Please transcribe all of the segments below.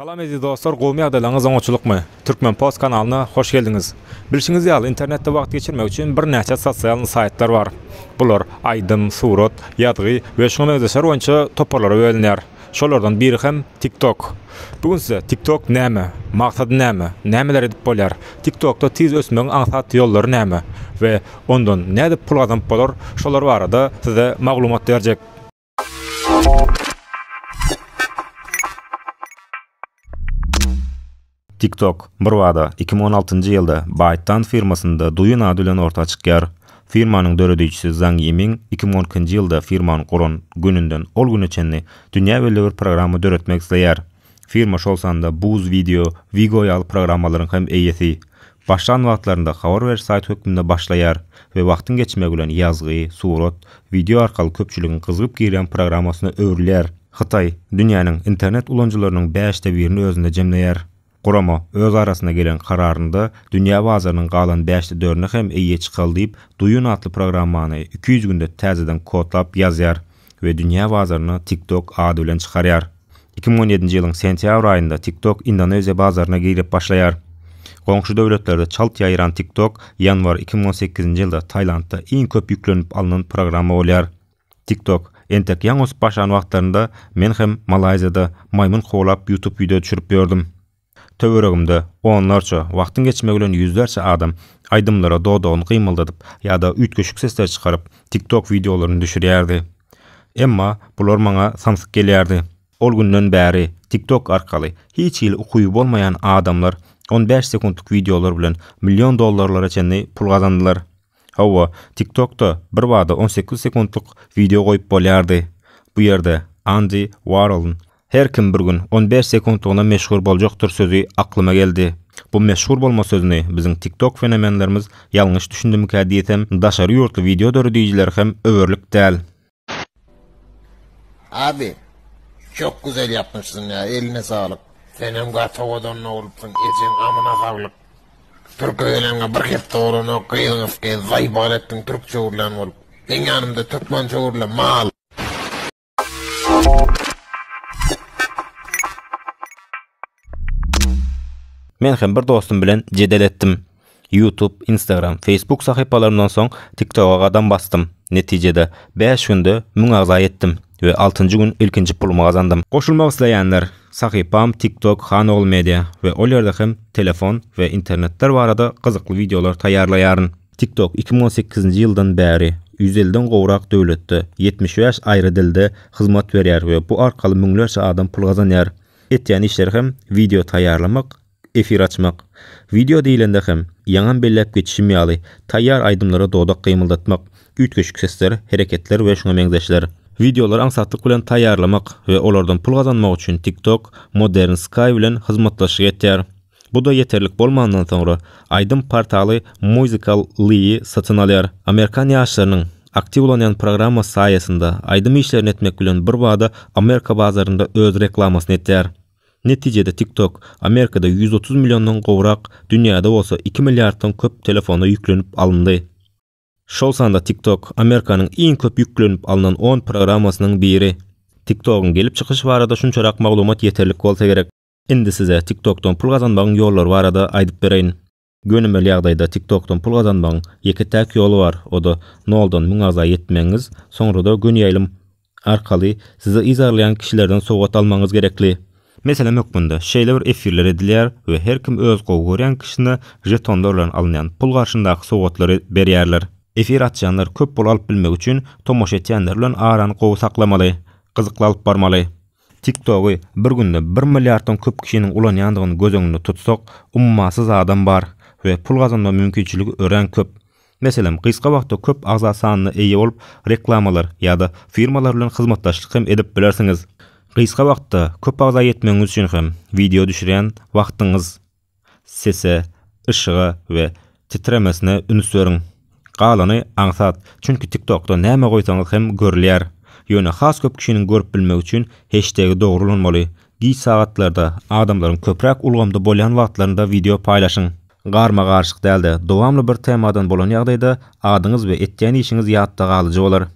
Salam eziz dostlar gowmy ýagdaýlaryňyz oňaçylykmy Türkmen post kanalyna hoş geldiňiz Bilşiňiz ýaly internetde wagt geçirmek üçin bir näçe sosialny saýtlar bar bular aýdym surat ýazgy we şuňa meňzeşler boýunça toparlara bölünýär şolardan biri hem tiktok bu gün size tiktok näme maksady näme nämeler edip bolýar tiktokda tiz ösmegiň aňsat ýollary näme we ondan nädip pul gazanyp bolar şolar barada size maglumat berjek. TikTok birbada iki müň on altynjy ýylda ByteDance firmasynda Douyin ady bilen orta çykýar. Firmanyň döredijisi Zhang Yiming iki müň on ikinji ýylda firmany guran gününden ol güne çenli dünýä belli bir programma döretmek isleýär. Firma şol sanda Buz Video, Vigo ýaly programmalaryň hem eýesi. Başlan wagtlarynda habar beriş saýt hökmünde başlaýar we wagtyň geçmegi bilen ýazgy, surat, wideo arkaly köpçüligiň gyzgyp girýän programmasyna öwrülýär. Hytaý, dünýäniň internet ulanyjylarynyň bäşde birini özünde jemleýär. Gurama öz arasynda gelen kararynda dünýä bazarynyň galan bäşde dörüne hem eýe çykaly diýip, Duyun atly programmany iki ýüz günde täzeden kodlap ýazýar. we dünýä bazaryna TikTok ady bilen çykarýar. Iki müň on ýedinji ýylyň sentýabr aýynda TikTok Indoneziýa bazaryna girip başlaýar. Goňşy döwletlerde çalt ýaýran TikTok ýanwar iki müň on sekizinji ýylda Tailandda iň köp ýüklenip alnan programma bolýar. TikTok entek ýaňy ösüp başlan wagtlarynda men hem Malaýziýada maýmyn kowlap YouTube wideo düşürip ýördüm. Töweregimde onlarça, wagtyň geçmegi bilen ýüzlerçe adam aýdymlara dodagyny gymyldadyp ýa-da üýtgeşik sesler çykaryp, TikTok wideolaryny düşürýärdi. Emma bular maňa samsyk gelýärdi. Ol günden bäri TikTok arkaly hiç hili ukyby bolmaýan adamlar on bäş sekuntlyk wideolar bilen million dollarlara çenli pul gazandylar. Hawa, TikTok-da birbada on sekiz sekuntlyk wideo goýup bolýardy. Bu ýerde Andy Warholyn Her kim bir gün on bäş sekuntlygyna meşhur boljakdyr sözi aklyma geldi. Bu meşhur bolma sözüni biziň TikTok fenomenlerimiz ýalňyş düşündimikä diýsem, daşary ýurtly wideo döredijileri hem öwerlik däl. Abi çok güzel yapmışsın ya eline sağlık. Senem gaty owadan bolupsyň. Ejeň amyna saglyk. Türk öýlenme bir hepde bolana gyzyňyz gez zaýbal etdiň türkçe urlan bolup. Meň ýanymda türkmençe urla mal. Men hem bir dostum bilen jedel etdim. YouTube, Instagram, Facebook sahypalarymdan soň TikToga gadam basdym. Netijede, bäş günde müň agza ýetdim we altynjy gün ilkinji pulumy gazandym. Goşulmak isleýänler, sahypam TikTok Hanogul Media we ol ýerde hem telefon we internetler barada gyzykly wideolar taýýarlaýaryn. TikTok iki müň on sekizinji ýyldan bäri ýüz elliden gowrak döwletde, ýetmiş bäş aýry dilde hyzmat berýär we bu arkaly müňlerçe adam pul gazanýar. Etýän işleri hem wideo taýýarlamak, efir açmak. Wideo diýlende hem, ýaňam belläp geçişim ýaly, taýýar aýdymlara dodak gymyldatmak, üýtgeşik sesler, hereketler we şuňa meňzeşler. Wideolary aňsatlyk bilen taýýarlamak we olardan pul gazanmak üçin TikTok Modern Sky bilen hyzmatdaşlyk etýär. Bu-da ýeterlik bolmandan soňra, aýdym portaly Musical Ly-y satyn alýar. Amerikan ýaşlarynyň aktiw ulanýan programmasy saýasynda, aýdym işlerini etmek bilen birbada Amerika bazarynda öz reklamasyny etýär. Netijede TikTok Amerikada ýüz otuz milliondan gowrak, dünýäde bolsa iki milliarddan köp telefona ýüklenip alyndy. Şol sanda TikTok Amerikanyň iň köp ýüklenip alnan on programmasynyň biri. TikTok-yň gelip çykyşy barada şunçarak maglumat ýeterlik bolsa gerek. Indi size TikTokdan pul gazanmagyň ýollary barada aýdyp bereýin. Gönümel ýagdaýda TikTokdan pul gazanmagyň ýeke-täk ýoly bar, o-da noldan müň agza ýetmegiňiz, soňra-da gönüýaýlym arkaly sizi yzarlaýan kişilerden sowgat almagyňyz gerekli. Meselem hökmünde, şeýle bir efirler edilýär we her kim öz gowy görýän kişisine žetonlar bilen alynýan pul garşyndaky sowgatlary berýärler. Efir açýanlar köp pul alyp bilmek üçin tomaşa etýänler bilen arany gowy saklamaly, gyzykly alyp barmaly. TikTok-y bir günde bir milliarddan köp kişiniň ulanýandygyny göz öňünde tutsak, ummasyz adam bar we pul gazanma mümkinçiligi örän köp. Meselem, gysga wagtda köp agza sanyna eýe bolup, reklamalar ýa-da firmalar bilen hyzmatdaşlyk hem edip bilersiňiz. Gysga wagtda köp agza ýetmegiňiz üçin hem wideo düşürýän wagtyňyz. Sese, yşyga we titremesine üns beriň. Galany aňsat, çünki TikTokda näme goýsaňyz hem görülýär. Ýöne has köp kişiniň görüp bilmegi üçin heştegi dogry ulanmaly. Giç sagatlarda, adamlaryň köpräk ulgamda bolýan wagtlarynda wideo paýlaşyň. Garma-garşyk däl-de, dowamly bir temadan bolan ýagdaýda adyňyz we etýän işiňiz ýatda galyjy bolar.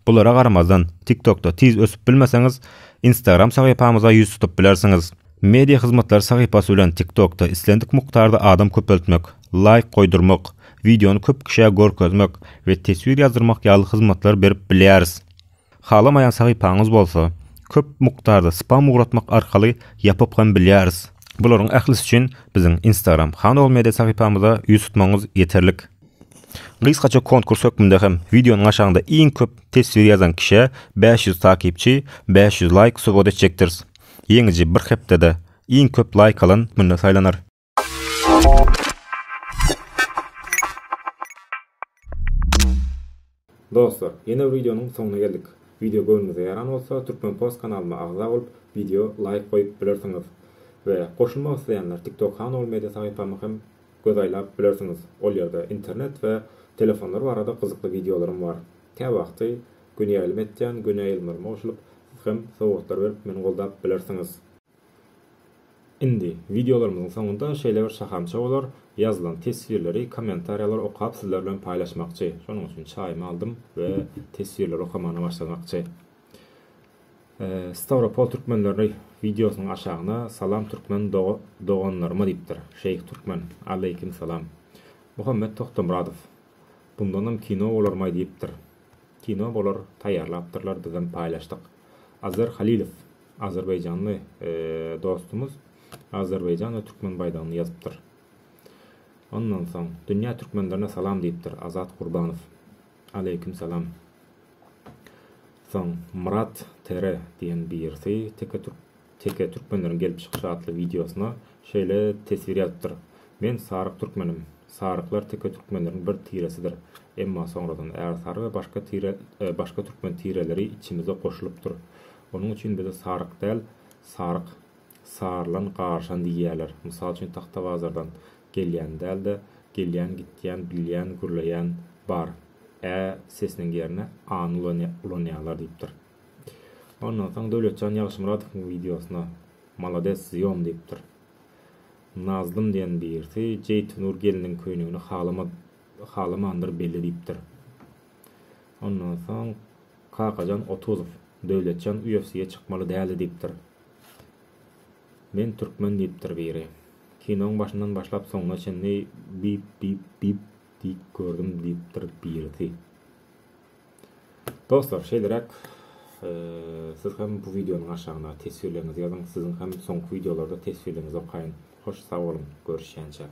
Bulara garamazdan, TikTokda tiz ösüp bilmeseňiz, Instagram sahypamyza ýüz tutup bilersiňiz. Media hyzmatlary sahypasy bilen TikTokda islendik mukdarda adam köpeltmek, laýk goýdurmak, wideony köp kişä görkezmek we teswir ýazdyrmak ýaly hyzmatlar berip bilýäris. Halamaýan sahypaňyz bolsa, köp mukdarda spam ugratmak arkaly ýapyp hem bilýäris. Bularyň ählisi üçin biziň Instagram Hanowmedia sahypamyza ýüz tutmagyňyz ýeterlik. Gysgaça konkurs hökmünde hem wideonyň aşagynda iň köp teswir ýazan kişä bäş ýüz takipçi, bäş ýüz laýk sowgat etjekdiris. Ýeňiji bir hepdede iň köp laýk alan günde saýlanar. Dostlar, ýene bir wideonyň soňuna geldik. Wideo göwnüňize ýaran bolsa, Türkmenpost kanalyma agza bolup, wideo laýk goýup bilersiňiz. We goşulmak isleýänler TikTok Hanol Media sahypama hem göz aýlap bilersiňiz. Ol ýerde internet we telefonlar barada gyzykly wideolarym bar. Kä wagty göni ýaýlym etýän, göni ýaýlymlaryma goşulyp, siz hem sowgatlar berip meni goldap bilersiňiz. Indi wideolarymyzyň soňunda şeýle bir şahamça bolar, ýazylan teswirleri, kommentariýalary okap sizler bilen paýlaşmakçy. Şonuň üçin çaýymy aldym we teswirleri okamagyna başlamakçy. Stawropol türkmenleri wideosynyň aşagyna Salam türkmen doganlaryma diýipdir. Şeýh türkmen, Aleýkim salam. Muhammet Togtamyradow, Bundanam kino bolarmaý diýipdir. Kino bolar, taýýarlapdyrlar, bizem paýlaşdyk. Azar Halilow, azerbaýjanly dostumyz Azerbaýjan we türkmen baýdagyny ýazypdyr. Ondan soň Dünýä türkmenlerine salam diýipdir Azat Gurbanow. Aleýkim salam. Soň Myrat Tere diýen birisi teke türk Teke türkmenleriň gelip çykyşy atly wideosyna şeýle teswir ýazypdyr, Men saryk türkmenim. Saryklar teke türkmenleriň bir tiresidir. Emma soňradan ärsary we başga tire başga türkmen tireleri içimize goşulypdyr. Onuň üçin bize saryk däl, saryk, sarylan, garyşan diýýärler. Mysal üçin Tahtabazardan gelýän däl-de, gelýän, gitýän, bilýän, gürleýän bar. Ä sesiniň ýerine any ulanýarlar diýipdir. Ondan soň Döwletjan Ýagşymyradowyň wideosyna Malades zýom diýipdir. Nazlym diýen birisi Jeýtunur gelniň köýnegini halamandyr belli diýipdir. Ondan soň Kakajan Otuzow Döwletjan UFC-ýe çykmaly däldi diýipdir. Men türkmen diýipdir biri. Kinoň başyndan başlap soňuna çenli bip bip bip diýip gördüm diýipdir birisi. Dostlar şeýleräk siz hem bu wideonyň aşagyna teswirleriňizi ýazyň, siziň hem soňky wideolarda teswirleriňizi okaýyn. Hoş sag boluň, görüşýänçäk.